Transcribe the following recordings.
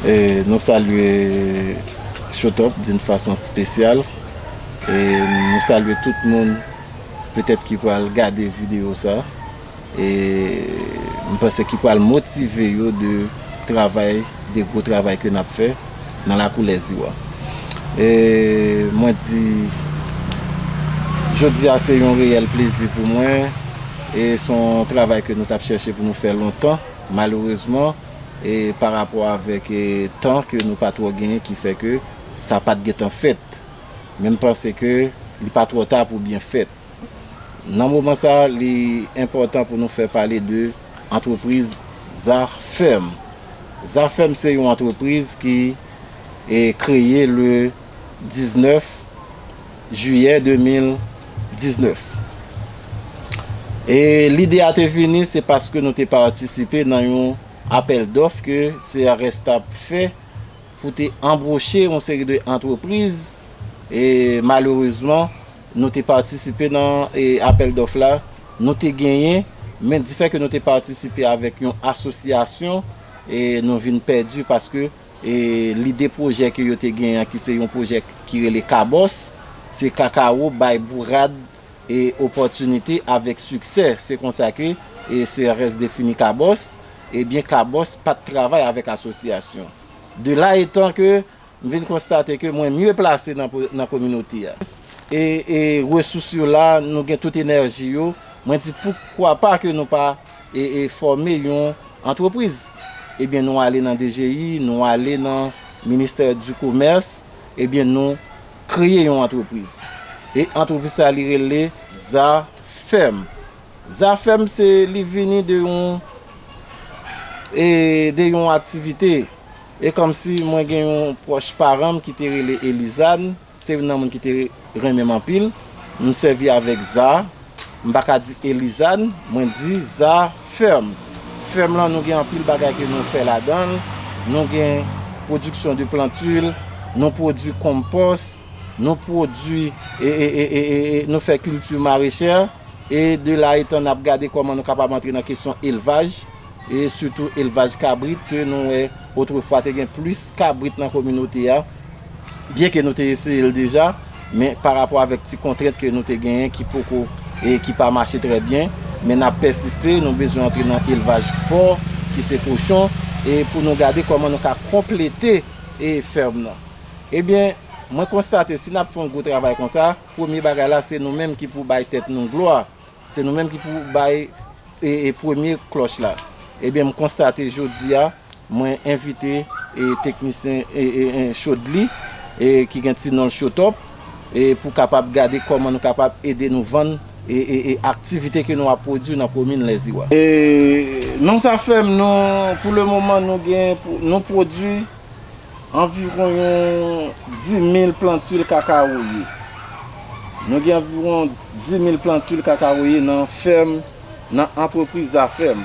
E nou salye Showtop d'une façon spéciale e nou salye tout moun petèt ki pral gade video sa e m panse ki pral motive yo de travay de gwo travay ke nap fè nan lakou lèzii wa e mwen di jodi a se yon reyèl plezi pou mwen e son travay ke nou tap chèche pou nou fè lontan malerezman pa rapò avèk tan ke nou pa twò genyen ki fè ke sa pat gentan fèt. Men m panse ke li pa twò ta pou byen fèt. Nan moman sa li enpòtan pou nou fè pale de antrepriz Zafèm. Zafèm se yon antrepriz ki kreye le 19. Jiyè 2019. E lide a te vini se paske nou te patisipe nan yon apèl dòf ke CRS t ap fè pou te anbwoche yon seri de antrepriz e malerezman nou te patisipe nan apèl dòf la nou te genyen men difè ke nou te patisipe avèk yon asosyasyon e nou vin pèdi paske Lide pwojè ke yo te gen an ki se yon pwojè ki rele Kabòs, se Kakawo bay bourad e opòtinite avèk siksè. Se konsa ke CRS defini Kabòs. Ebyen Kabòs pa t travay avèk asosyasyon. De la etan ke m vin konstate ke mwen mye plase nan kominote a. E resous yo la, nou gen tout enèji yo. Mwen di poukwa pa ke nou pa e fòme yon antrepriz ebyen nou ale nan DGI nou ale nan ministè di komès ebyen nou kreye yon antrepriz e antrepriz sa li rele zafèm zafèm se li vini de yon e de yon aktivite e kòmsi mwen gen yon pwòch paranm ki te rele Elizane. Se youn nan moun ki te renmen m anpil. M sèvi avèk za. M pa ka di Elizad. Mwen di za fèm. Fèm lan nou gen anpil bagay ke nou fè ladan l. Nou gen pwodiksyon de plantil, nou pwodui konpòs, nou pwodui e nou fè kilti marechè. E de la etan n ap gade kòman nou kapab antre nan kesyon elvaj. E sitou elvaj kabrit ke nou wè otrefwa te gen plis kabrit nan kominote a. byen ke nou te eseye l deja, men pa rapò avèk ti kontrent ke nou te genyen ki poko, e ki pa mache trè byen, men nap pèsiste, nou bezwen antre nan elvaj pòr, ki se kochon, e pou nou gade kòman nou ka konplete e fèrm nan. Ebyen, mwen konstate si nap fè yon gwo travay konsa, premye bagay la se nou menm ki pou bay tèt nou glwa, Se nou menm ki pou bay premye klòch la. Ebyen m konstate jodi a mwen envite teknisyen Chodly ki gen ti non l Chotop pou kapab gade kòman nou kapab ede nou vann aktivite ke nou ap pwodui nan komin Lèziwa. Non sa fèm nou pou le moman nou gen nou pwodui. Anviwon yon 10.000 plantil kakawoye. Nou gen anviwon 10.000 plantil kakawoye nan fèm, nan antrepriz Zafèm.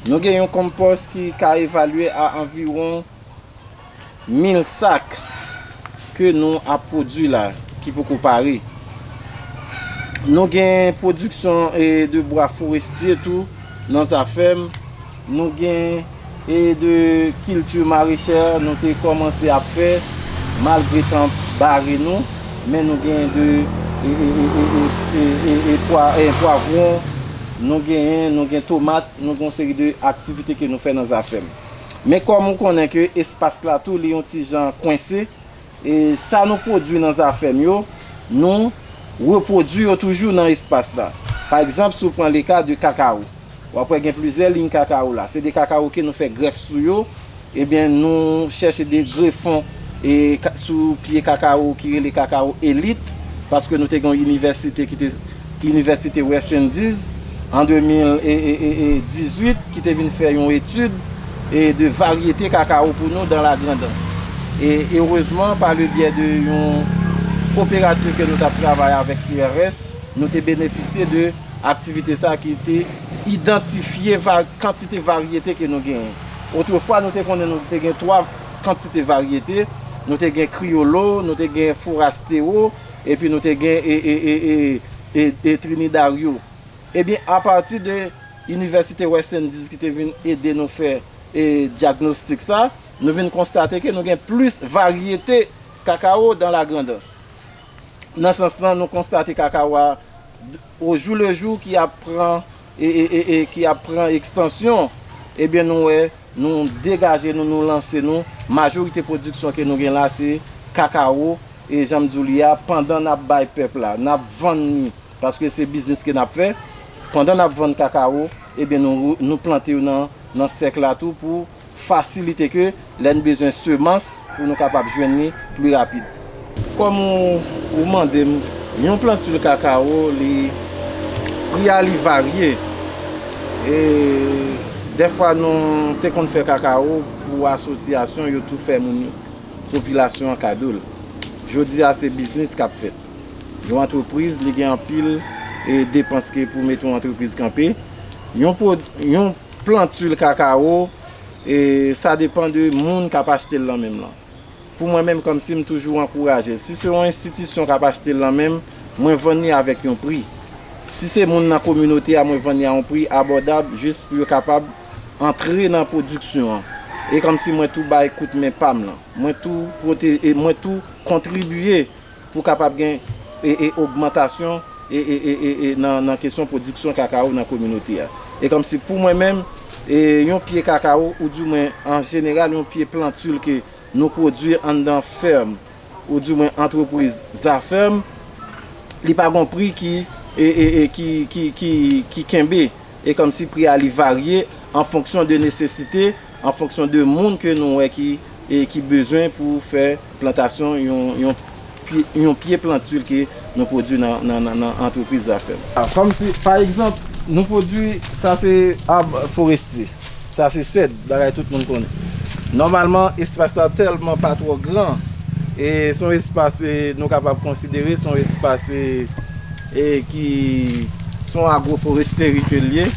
Nou gen yon konpòs ki ka evalye a anviwon 1.000 sak ke nou ap pwodwi la, ki poko pare. Nou gen pwodiksyon de bwa forestye tou nan Zafèm. Nou gen e de kilti marechè nou te kòmanse ap fè malgre tan bare nou, men nou gen de e pwavwon, nou genyen, nou gen tomat, nou gen yon seri de aktivite ke nou fè nan zafèm. Men kòm ou konnen ke espas la tou li yon ti jan kwense, E sa nou pwodui nan zafè m yo, nou repwodui yo toujou nan espas la. Pa egzanp, si w pran leka de kakawo, w ap wè gen plizyè liy kakawo la. Se de kakawo ke nou fè grèf sou yo, ebyen nou chèche de grefon sou pye kakawo ki rele kakawo elit, paske nou te gen yon inivèsite ki te Inivèsite West Indies an 2018 ki te vin fè yon etid de varyete kakawo pou nou dan la Grandans. E erezman pa le byè de yon koperativ ke nou tap travay avèk CRS, nou te benefisye de aktivite sa ki te idantifye kantite varyete ke nou genyen. Otrefwa nou te konnen nou te gen 3 kantite varyete, nou te gen Kriyolo, nou te gen Forastewo, Epi nou te gen e Trinidario. Ebyen apati de Inivèsite West Indies ki te vin ede nou fè e dyagnostik sa, nou vin konstate ke nou gen plis varyete kakawo dan la grandans. Nan sans lan nou konstate kakawo a ojou lejou ki ap pran. e ki ap pran ekstansyon, ebyen nou wè nou degaje nou, nou lanse nou, majorite pwodiksyon ke nou gen la se kakawo, e janm di w li a, pandan n ap bay pèp la, n ap vann li, paske se biznis ke n ap fè, pandan n ap vann kakawo, ebyen nou plante yo nan sèk la tou pou. Fasilite ke lè n bezwen semans pou nou kapab jwenn li pli rapid. Kòm ou mande m, yon plantil kakawo li pri a li varye e dèfwa nou te konn fè kakawo pou asosyasyon yo tou fè moun popilasyon an kado l. Jodi a se biznis k ap fèt. Yon antrepriz li gen anpil depans ke pou mete yon antrepriz kanpe. Yon. Plant huile cacao e sa depan de moun kap achtel lan menm lan. Pou mwen menm kom sim toujou ankouraje si se yon enstitisyon kap achtel lan menm mwen vann li avek yon pri. Si se moun nan kominote a mwen vann li a yon pri abòdab jis pou yo kapab antre nan pwodiksyon an. E kom si mwen tou bay kout men pam lan. Mwen tou pwote e mwen tou kontribiye Pou kapab gen ogmantasyon nan kesyon pwodiksyon kakawo nan kominote a. E kòmsi pou mwen menm, yon pye kakawo ou di mwen an jeneral yon pye plantil ke nou pwodwi anndan fèm ou di mwen antrepriz zafèm, li pa gon pri ki kenbe. E kòmsi pri a li varye an fonksyon de nesesite an fonksyon de moun ke nou wè ki e ki bezwen pou fè plantasyon yon yon pye yon pye plantul ke nou pwodui nan nan nan nan antrepriz Zafèm. A kòm si pa egzanp nou pwodui sa se ab forestye, sa se sèd bagay tout moun konnen. Nòmalman espas la tèlman pa twò gran e son espas e nou kapab konsidere son espas e. e ki se yon agwoforesteri ke l ye,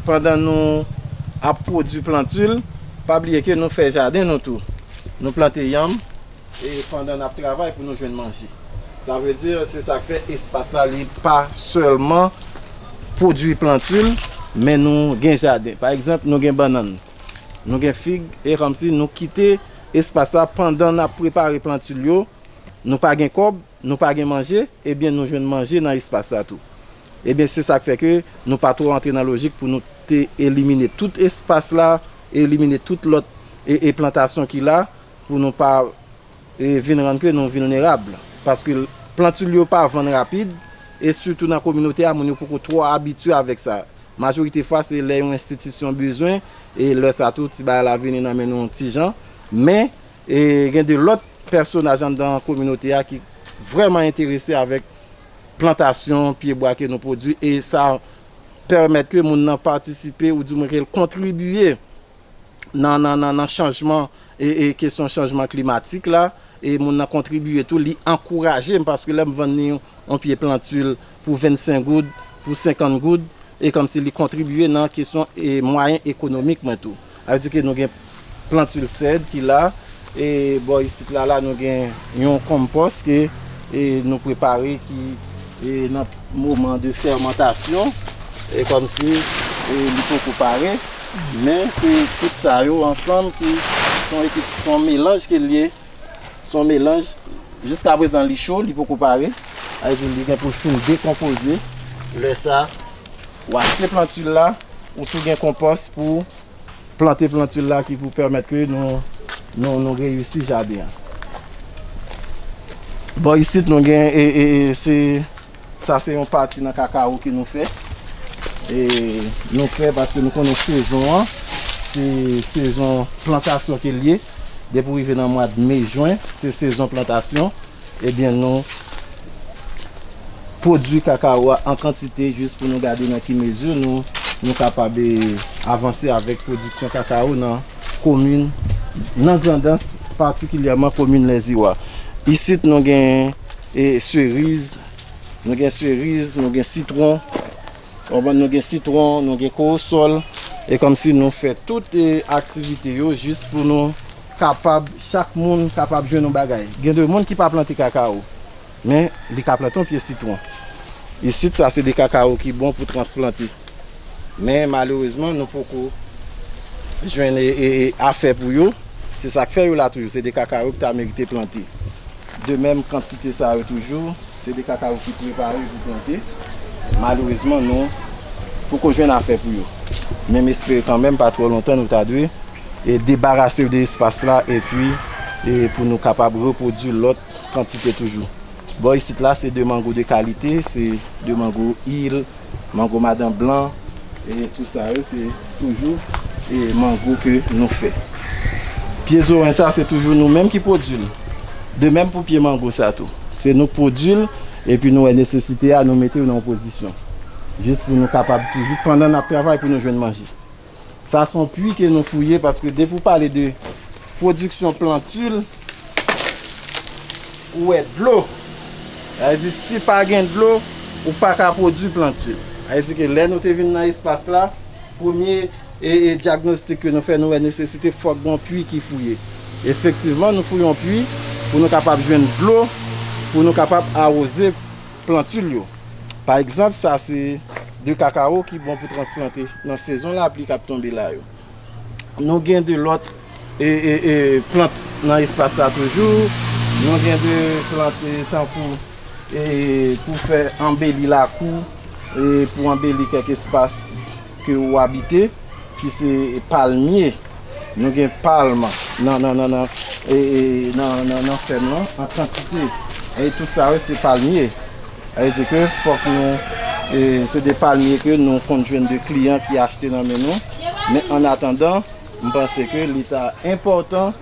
pandan nou ap pwodui plantul, pa bliye ke nou fè jaden nou tou, nou plante yanm, e pandan n ap travay pou nou jwenn manje. Sa vle di, se sa k fè espas la li pa sèlman pwodui plantul, men nou gen jaden. Pa egzanp, nou gen bannann, nou gen fig, e kòmsi nou kite espas la pandan n ap prepare plantul yo, nou pa gen kòb, Nou pa gen manje, ebyen nou jwenn manje nan espas la tou. Ebyen se sa k fè ke nou pa twò antre nan lojik pou nou te elimine tout espas la, elimine tout lòt e plantasyon ki la pou nou pa vin rann ke nou vilnerab. Paske plantul yo pa vann rapid e sitou nan kominote a moun yo poko twò abitye avèk sa. Majorite fwa se lè yon enstitisyon bezwen e lè sa tou ti bagay la vini nan men nou yon ti jan. Men. E gen de lòt pèsonaj anndan kominote a ki vrèman enterese avèk plantasyon pye bwa ke nou pwodui e sa pèmèt ke moun nan patisipe ou di mwen ke l kontribiye nan chanjman e kesyon chanjman klimatik la e moun nan kontribiye tou li ankouraje m paske lè m vann li yon pye plantul pou 25 goud, pou 50 goud, e kòmsi li kontribye nan kesyon e mwayen ekonomik mwen tou. A di ke nou gen plantil sèd ki la, e bò isit la la nou gen yon konpòs ke e nou prepare ki e nan moman de fèmantasyon, e kòmsi e li poko pare, men se tout sa yo ansanm ki son ekip, son melanj ke l ye. Son melanj, jiska prezan li cho, li poko pare, sa vle di li gen pou l fin dekonpoze, lè sa ou achte plantil la, ou tou gen konpòs pou plante plantil la ki pou pèmèt ke nou reyisi jaden an. Bò isit nou gen e se. Sa se yon pati nan kakawo ke nou fè. E nou fè paske nou konnen sezon an. Se sezon plantasyon ke li ye. Depi ou rive nan mwad me, jwen, se sezon plantasyon. Ebyen nou pwodwi kakawo a an kantite jis pou nou gade nan ki mezi nou kapab avanse avèk pwodiksyon kakawo nan komin, nan Grandans, patikilyèman komin Lèziwa. Isit nou gen. E seriz, nou gen seriz, nou gen sitwon, konprann nou gen sitwon, nou gen kowosòl, e kòmsi nou fè tout aktivite yo jis pou nou kapab, chak moun kapab jwenn yon bagay. Gen de moun ki pa plante kakawo, men li ka plante yon pye sitwon. Isit sa se de kakawo ki bon pou transplante. Men malerezman nou poko jwenn afè pou yo, se sa k fè yo la toujou, se de kakawo ki ta merite plante. De menm kantite sa yo toujou, se de kakao ki prepare pou plante. Malerezman nou poko jwenn afè pou yo. Men m espere kanmenm pa twò lontan nou ta dwe debarase de espas la epi pou nou kapab repwodui lòt kantite toujou. Bò isit la se de mango de kalite, se de mango il Mango madan blan e tout sa yo se toujou e mango ke nou fè. Pye zowen sa se toujou nou menm ki pwodui l. De menm pou pye mango sa tou. Se nou k pwodui l epi nou wè nesesite a nou mete yo nan yon pozisyon. Jis pou nou kapab toujou pandan n ap travay pou nou jwenn manje. Sa son pwi ke nou fouye paske depi ou pale de pwodiksyon plantil ou wè dlo. Sa vle di si pa gen dlo ou pa ka pwodwi plantil. Sa vle di ke lè nou te vin nan espas la premye dyagnostik ke nou fè nou wè nesesite fòk gon pwi ki fouye. Efektivman nou fouye yon pwi pou nou kapab jwenn dlo pou nou kapab awoze plantul yo. Pa egzanp sa se de kakawo ki bon pou transplante nan sezon lapli k ap tonbe la yo. Nou gen de lòt plant nan espas sa toujou. Nou gen de plant tankou pou fè anbeli lakou, pou anbeli kèk espas. Ke ou abite, ki se palmye. Nou gen palm nan fèm lan an kantite. E tout sa yo se palmye. Sa vle di ke fòk nou, se de palmye ke nou konn jwenn de kliyan ki achte nan men nou. Men an atandan, m panse ke li ta enpòtan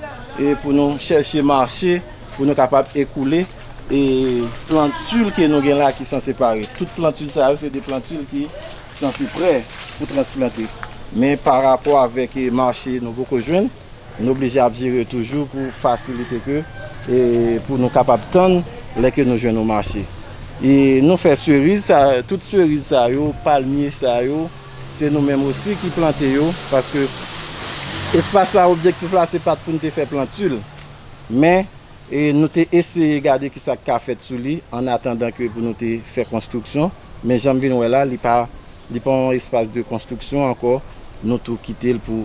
pou nou chèche mache pou nou kapab ekoule plantil ke nou gen la ki san separe. Tout plantil sa yo se de plantil ki Santi prè pou transplante. Men pa rapò avèk mache nou poko jwenn, nou oblije ap jere toujou pou fasilite ke pou nou kapab tann lè ke nou jwenn yon mache. E nou fè seriz sa, tout seriz sa yo, palmye sa yo, se nou menm osi ki plante yo, paske espas sa objektif la se pat pou nou te fè plantul, men. E nou te eseye gade ki sa k ka fèt sou li ann atandan ke pou nou te fè konstriksyon, men jan m vin wè la, li pa, li pa yon espas de konstriksyon ankò, nou tou kite l pou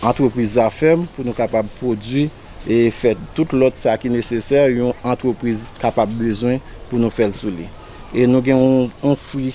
antrepriz Zafèm pou nou kapab pwodui e fè tout lòt sa ki nesesè yon antrepriz kapab bezwen pou nou fè l sou li. E nou gen yon fwi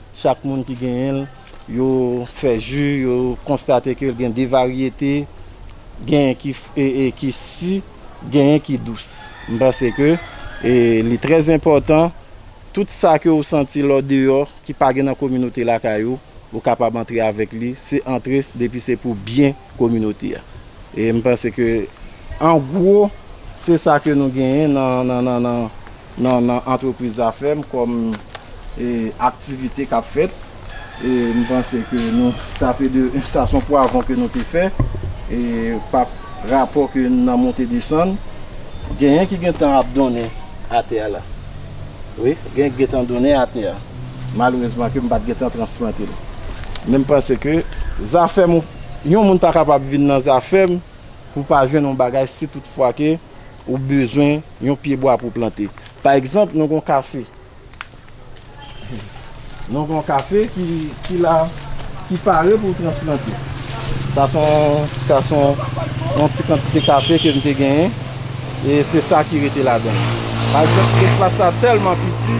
Chak moun ki genyen l, yo fè ji, yo konstate ke l gen de varyete, genyen ki ki si, genyen ki dous. M panse ke li trè enpòtan, tout sa ke ou santi lè w deyò, ki pa gen nan kominote lakay ou, ou kapab antre avèk li, se antre depi se pou byen kominote a. E m panse ke an gwo, se sa ke nou genyen nan Non nan antrepriz zafè m kòm aktivite kap fèt e m panse ke nou sa se de sa son pwavon ke nou te fè e pa rapò ke nan monte desann genyen ki gentan ap donnen atè a la wi genyen ki gentan donnen atè a malerezman ke m pat gentan transplante l men m panse ke zafè m yon moun pa kapab vin nan zafè m pou pa jwenn yon bagay si tout fwa ke. ou bezwen yon pye bwa pou plante. Pa egzanp, nou gen yon kafe. Nou gen yon kafe ki la, ki pare pou transplante. Sa son, sa son yon ti kantite kafe ke m te genyen. E se sa ki rete ladan. Pa egzanp, espas sa tèlman piti,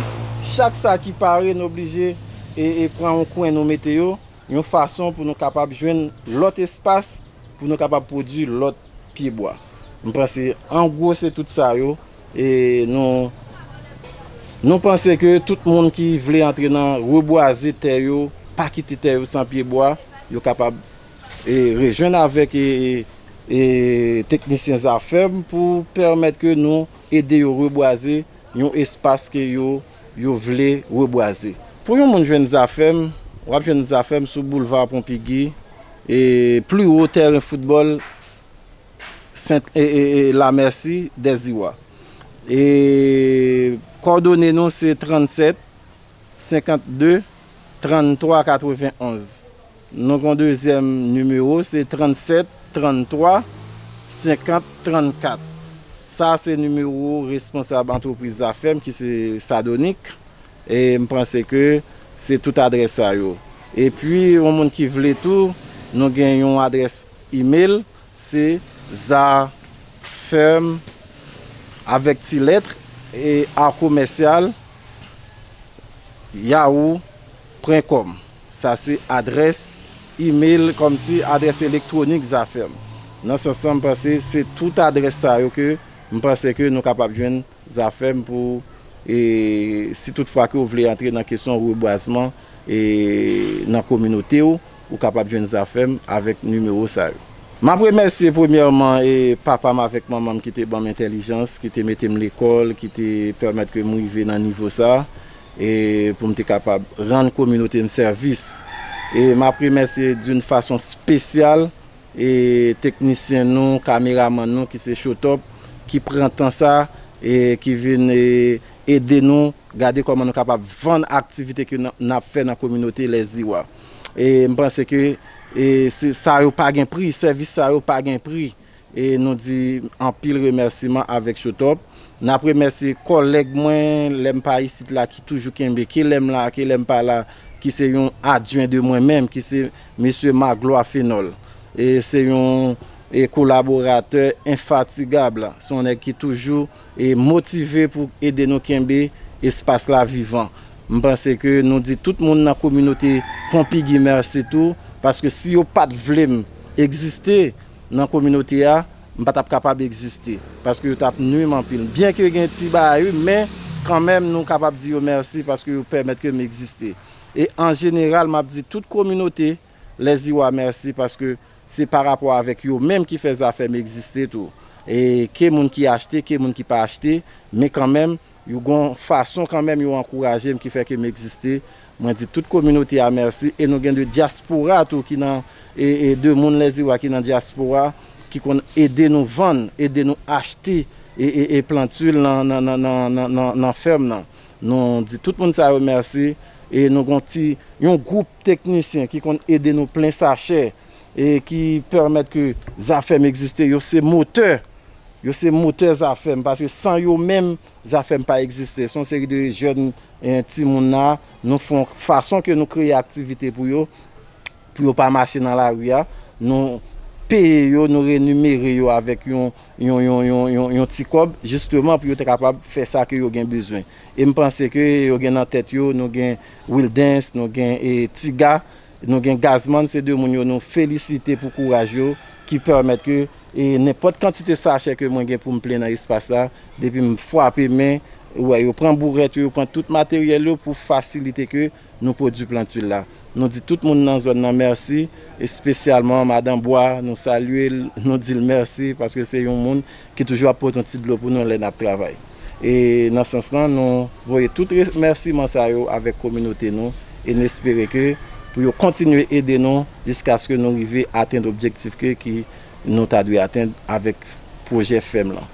chak sa ki pare nou oblije e pran yon kwen nou mete yo, yon fason pou nou kapab jwenn lòt espas pou nou kapab pwodui lòt. pye bwa. M panse an gwo se tout sa yo e nou nou panse ke tout moun ki vle antre nan rebwaze tè yo, pa kite tè yo san pye bwa, yo kapab e rejwenn avèk e e teknisyen Zafèm pou pèmèt ke nou ede yo rebwaze yon espas ke yo. Yo vle rebwaze. Pou yon moun jwenn zafè m, w ap jwenn zafè m sou boulva Ponpigui e pli wo tèren foutbòl Sent Lamèsi Dèziwa. E kòdone nou se 37 52 33 91. Nou gen yon dezyèm nimewo se 37, 33, 50, 34. Sa se nimewo responsab antrepriz Zafèm ki se Sadonik. E m panse ke se tout adrès sa yo. E pi yon moun ki vle tou, nou gen yon adrès email se zafem avèk ti lèt e a komèsyal yahoo pwen kòm. Sa se adrès email kòmsi adrès elektwonik Zafèm. Nan sans lan m panse se tout adrès sa yo ke m panse ke nou kapab jwenn Zafèm pou si tout fwa ke ou vle antre nan kesyon rebwazman nan kominote ou, ou kapab jwenn Zafèm avèk nimewo sa yo. M ap remèsye premyèman papa m avèk manman m ki te ban m entèlijans, ki te mete m lekòl, ki te pèmèt ke m rive nan nivo sa. E pou m te kapab rann kominote m sèvis. E m ap remèsye doun fason spesyal e teknisyen nou, kameraman nou ki se Showtop ki pran tan sa e ki vin e ede nou gade kòman nou kapab vann aktivite ke n ap fè nan kominote Lèziw a. E m panse ke e se sa yo pa gen pri, sèvis sa yo pa gen pri. E nou di anpil remèsiman avèk Showtop. N ap remèsye kòlèg mwen, lè m pa isit la, ki toujou kenbe, ke lè m la, ke lè m pa la, ki se yon adjwen de mwen menm, ki se Mesye Magloire Fenol. E se yon kolaboratè enfatigab. Se yon nèg ki toujou motive pou ede nou kenbe espas la vivan. M panse ke nou di tout moun nan kominote Pompigui mèsi tou, paske si yo pa t vle m egziste nan kominote a, m pa t ap kapab egziste, paske yo t ap nui m anpil. Byenke gen ti bagay wi, men kanmenm nou kapab di yo mèsi paske yo pèmèt ke m egziste. E an jeneral m ap di tout kominote. Les Iwa merci paske se pa rapò avèk yo menm ki fè Zafèm egziste tou e ke moun ki achte ke moun ki pa achte men kanmenm yo gon fason kanmenm yo ankouraje m ki fè ke m egziste mwen di tout kominote a merci e nou gen 2 dyaspora tou ki nan e 2 moun Les Iwa ki nan dyaspora ki konn ede nou vann ede nou achte e e e plantul nan nan nan nan nan fèm nan nou di tout moun sa yo merci. E nou gon ti yon gwoup teknisyen ki konn ede nou plen sachè e ki pèmèt ke Zafèm egziste. Yo se motè, yo se motè Zafèm paske san yo menm Zafèm pa egziste. Son seri de jèn timoun la, nou fon fason ke nou kreye aktivite pou yo, pou yo pa mache nan lari a. Nou peye yo, nou renimere yo avèk yon yon yon yon yon ti kòb jisteman pou yo te kapab fè sa ke yo gen bezwen. E m panse ke yo gen nan tèt yo, nou gen Wildens, nou gen Tiga, nou gen Gazman, se 2 moun yo nou felisite pou kouraj yo ki pèmèt ke nenpòt kantite sachè ke mwen gen pou m plen nan espas la, depi m fwape men, ou wè yo pran bourèt yo, yo pran tout materyèl yo pou fasilite ke. Nou pwodwi plant huile la. Nou di tout moun nan zòn nan mèsi, espesyalman Madan Bwa, nou salye l, nou di l mèsi paske se yon moun ki toujou ap pote yon ti dlo pou nou lè n ap travay. E nan sans lan, nou voye tout remèsiman sa yo avèk kominote nou e n espere ke pou yo kontinye ede nou jiskaske nou rive atenn objektif ke ki nou ta dwe atenn avèk pwojè fèm lan.